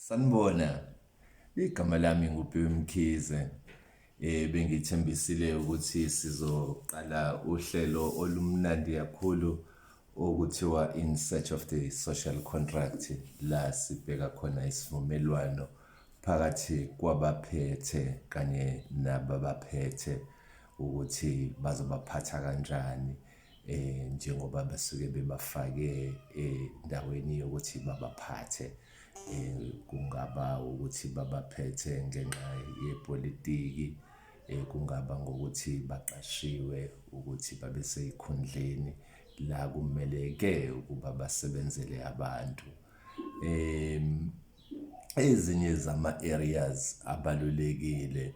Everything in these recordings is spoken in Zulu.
Sanibona. Igama lami nguPhiwe Mkhize. Eh bengithembisile ukuthi sizoqala uhlelo olumnandi kakhulu okuthiwa in search of the social contract la sibheka khona isivumelwano phakathi kwabaphethe kanye nababaphethe ukuthi bazobaphatha kanjani eh njengoba basuke bebafake endaweni eh, yokuthi babaphathe eh kungaba ukuthi babaphethe ngenxa yepolitiki eh kungaba ngokuthi baqashiwe ukuthi babe seyikhundleni la kumeleke ukuba basebenzele abantu em ezinye zama-areas abalulekile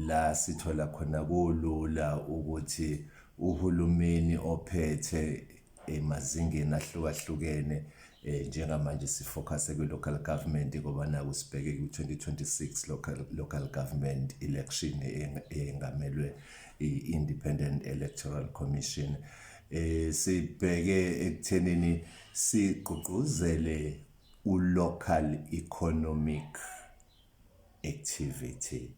la sithola khona kulula ukuthi uhulumeni ophethe emazingeni ahlukahlukene eh njengamanje sifocuse kwi local government ngoba naku sibheke ku 2026 local local government election engamelwe i Independent Electoral Commission eh sibheke ekuthenini sigqugquzele uLocal Economic Activity,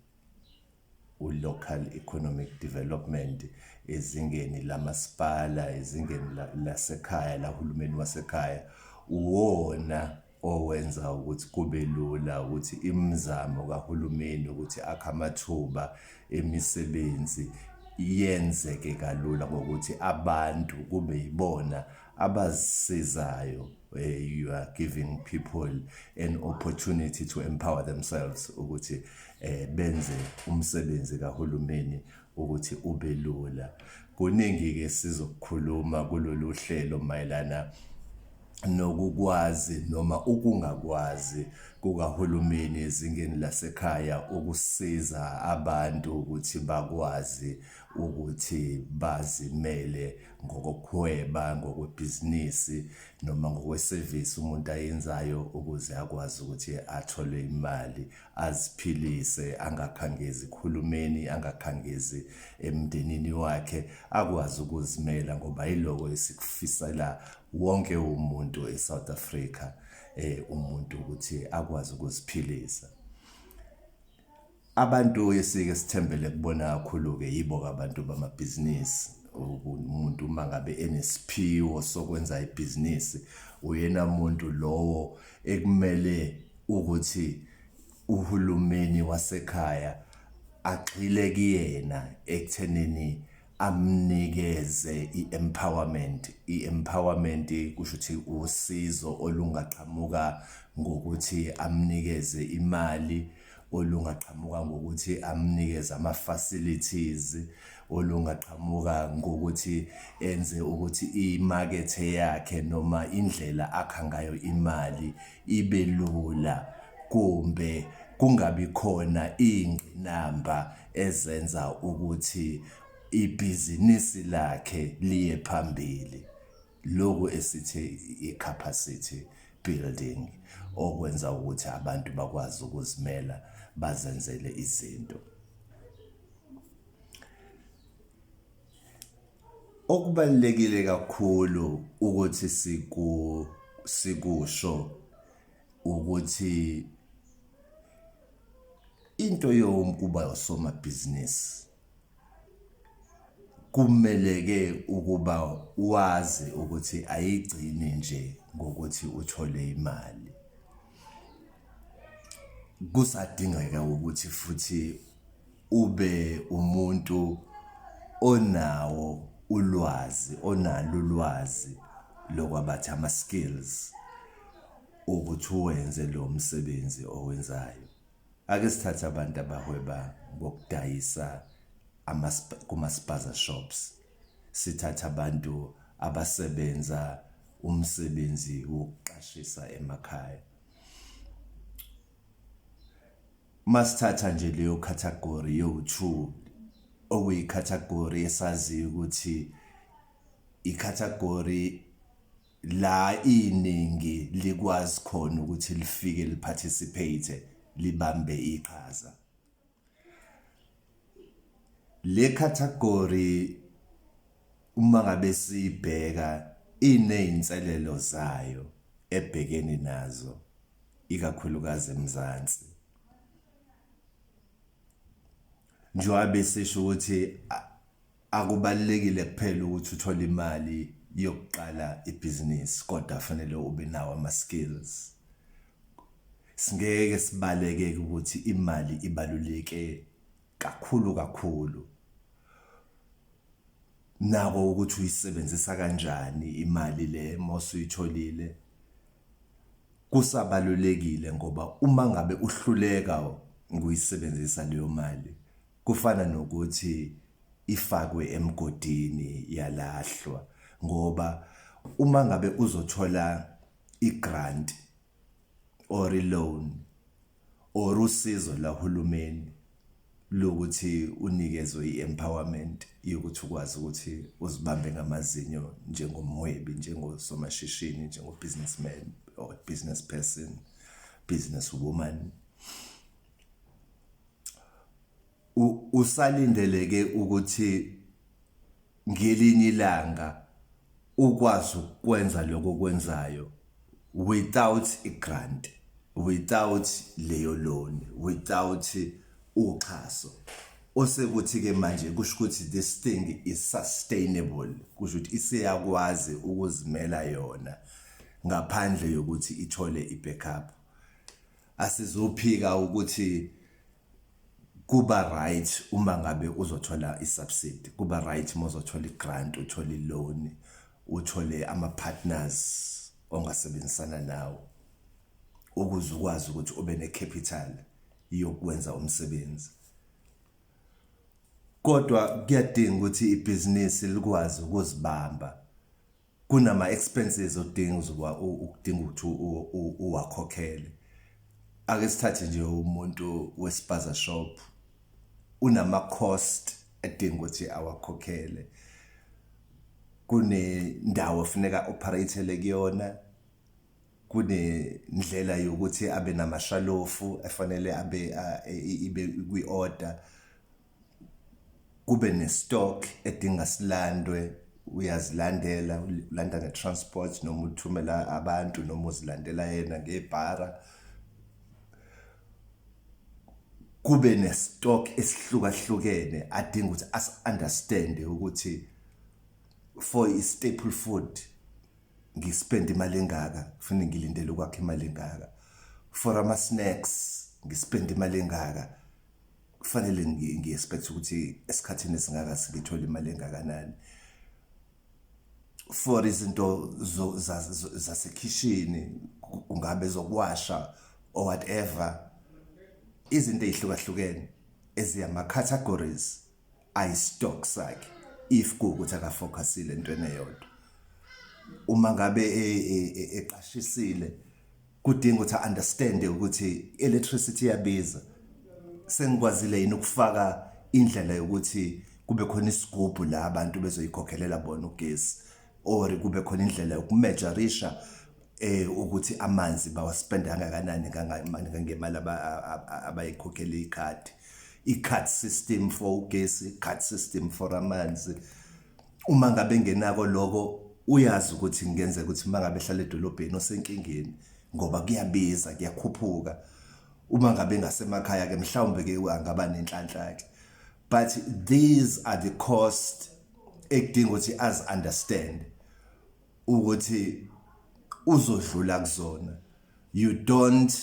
uLocal Economic Development ezingeni lamasipala, ezingeni lasekhaya, lahulumeni wasekhaya, uwona owenza ukuthi kube lula ukuthi imizamo kahulumeni ukuthi akhe amathuba emisebenzi yenzeke kalula ngokuthi abantu kube yibona abazisizayo where you are giving people an opportunity to empower themselves ukuthi eh benze umsebenzi kahulumeni ukuthi ube lula kuningi ke sizokukhuluma kulolu hlelo mayelana nokukwazi noma ukungakwazi kukahulumeni ezingeni lasekhaya ukusiza abantu ukuthi bakwazi ukuthi bazimele ngokokuhweba ngokwebhizinisi noma ngokwesevisi umuntu ayenzayo ukuze akwazi ukuthi athole imali aziphilise angakhangezi khulumeni angakhangezi emndenini wakhe akwazi ukuzimela ngoba yiloko esikufisela wonke umuntu eSouth Africa eh umuntu ukuthi akwazi ukuziphilisa Abantu esike sithembele kubona kakhulu-ke yibo-ke abantu bamabhizinisi umuntu uma ngabe enesiphiwo sokwenza ibhizinisi uyena muntu lowo ekumele ukuthi uhulumeni wasekhaya agxile kuyena ekuthenini amnikeze i-empowerment i-empowerment kusho ukuthi usizo olungaqhamuka ngokuthi amnikeze imali olungaqhamuka ngokuthi amnikeze ama-facilities olungaqhamuka ngokuthi enze ukuthi imakethe yakhe noma indlela akha ngayo imali ibe lula kumbe kungabi khona iy'ngqinamba ezenza ukuthi ibhizinisi lakhe liye phambili lokhu esithi i-capacity building okwenza ukuthi abantu bakwazi ukuzimela bazenzele izinto okubalekile kakhulu ukuthi siku sikusho ukuthi into yokuba usomabhizinisi kumeleke ukuba wazi ukuthi ayigcini nje ngokuthi uthole imali kusadingeka ukuthi futhi ube umuntu onawo ulwazi onalo ulwazi lokwabathi ama-skills ukuthi uwenze lo msebenzi owenzayo ake sithathe abantu abahweba ngokudayisa kuma-spaza shops sithathe abantu abasebenza umsebenzi wokuqashisa emakhaya masithatha nje leyo category yowu-two okuyi-category esaziyo ukuthi i-category la iningi likwazi khona ukuthi lifike liparticipate libambe iqhaza le category uma ngabe sibheka inezinselelo zayo ebhekeni nazo ikakhulukazi eMzansi njengoba besisho ukuthi Akubalulekile kuphela ukuthi uthole imali yokuqala ibhizinisi kodwa fanele ube nawo ama-skills. Singeke sibaleke ukuthi imali ibaluleke kakhulu kakhulu. Nako ukuthi uyisebenzisa kanjani imali le uma usuyitholile. Kusabalulekile ngoba uma ngabe uhluleka nguyisebenzisa leyo mali, kufana nokuthi ifakwe emgodini yalahlwa ngoba uma ngabe uzothola igrant or iloan or usizo lahulumeni lokuthi unikezwe i-empowerment yokuthi ukwazi ukuthi uzibambe ngamazinyo njengomhwebi njengosomashishini njengo-businessman or business person business woman usalindeleke ukuthi ngelinye ilanga ukwazi ukwenza lokho okwenzayo without i-grant without leyo loan without uxhaso osekuthi-ke manje kusho ukuthi this thing is sustainable kusho ukuthi iseyakwazi ukuzimela yona ngaphandle yokuthi ithole i-backup asizophika ukuthi kuba right uma ngabe uzothola isubsidy kuba right uma uzothola igrant uthole iloan uthole ama-partners ongasebenzisana nawo ukuze ukwazi ukuthi ube ne-capital yokwenza umsebenzi kodwa kuyadinga ukuthi ibhizinisi likwazi ukuzibamba kunama expenses odinga uzoba ukudinga ukuthi uwakhokhele ake sithathe nje umuntu wesipaza shop unama cost edinga ukuthi awakhokhele kunendawo funeka operatele kuyona kunendlela yokuthi abe namashalofu efanele abe ibe kwi-order kube nestock edinga silandwe uyazilandela ulanda ngetransport noma uthumela abantu noma uzilandela yena ngebhara kube nestock esihlukahlukene adinga ukuthi as understand ukuthi for i staple food ngispend imali engaka kufanele ngilindele ukwakhe imali engaka for ama snacks ngispend imali engaka kufanele ngi-expect ukuthi esikhathini esingaka singithola imali engakanani for izinto zasekhishini kungabe zokuwasha or whatever izinto ezihlukahlukene eziyama categories I stock sakhe if kuukuthi aka focusile entweni eyodwa. Uma ngabe e, e, e, eqashisile kudinga ukuthi understand ukuthi electricity iyabiza. Sengikwazile yini ukufaka indlela yokuthi kube khona isigubhu la abantu bezoyikhokhelela bona ugesi or kube khona indlela yokumejarisha eh ukuthi amanzi bawaspenda kangakanani ngemali abayikhokhela ikhadi i-card system for ugesi card system for amanzi uma ngabe ngenako lokho uyazi ukuthi ngenzeka ukuthi uma ngabe ehlala edolobheni osenkingeni ngoba kuyabiza kuyakhuphuka uma ngabe ngasemakhaya ke mhlawumbe ke angaba nenhlanhla ke but these are the cost ekudinga ukuthi as understand ukuthi uzodlula kuzona you don't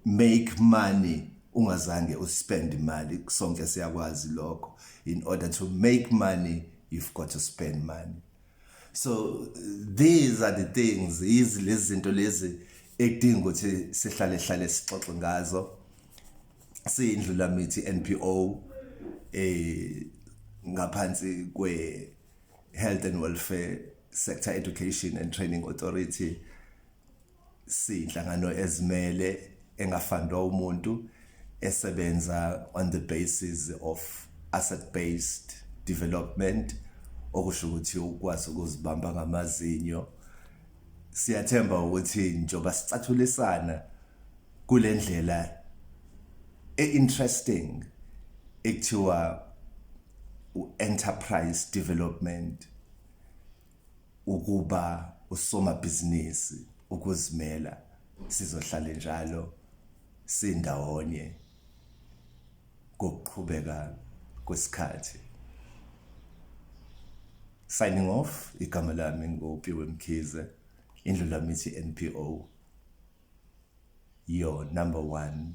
make money ungazange uspend imali sonke siyakwazi lokho in order to make money you've got to spend money so these are the things yizi lezi zinto lezi ekudinga ukuthi sihlale hlale sixoxe ngazo siyindlula mithi NPO eh ngaphansi kwe Health and Welfare Sector Education and Training Authority siyinhlangano ezimele engafandwa umuntu esebenza on the basis of asset based development okusho ukuthi ukwazi ukuzibamba ngamazinyo siyathemba ukuthi njoba sicathulisana kulendlela e-interesting ekuthiwa u-enterprise development ukuba usomabhizinisi ukuzimela sizohlale njalo sindawonye kokuqhubeka kwesikhathi signing off igama lami ngopiwe mkhize indlu lami ithi NPO your number one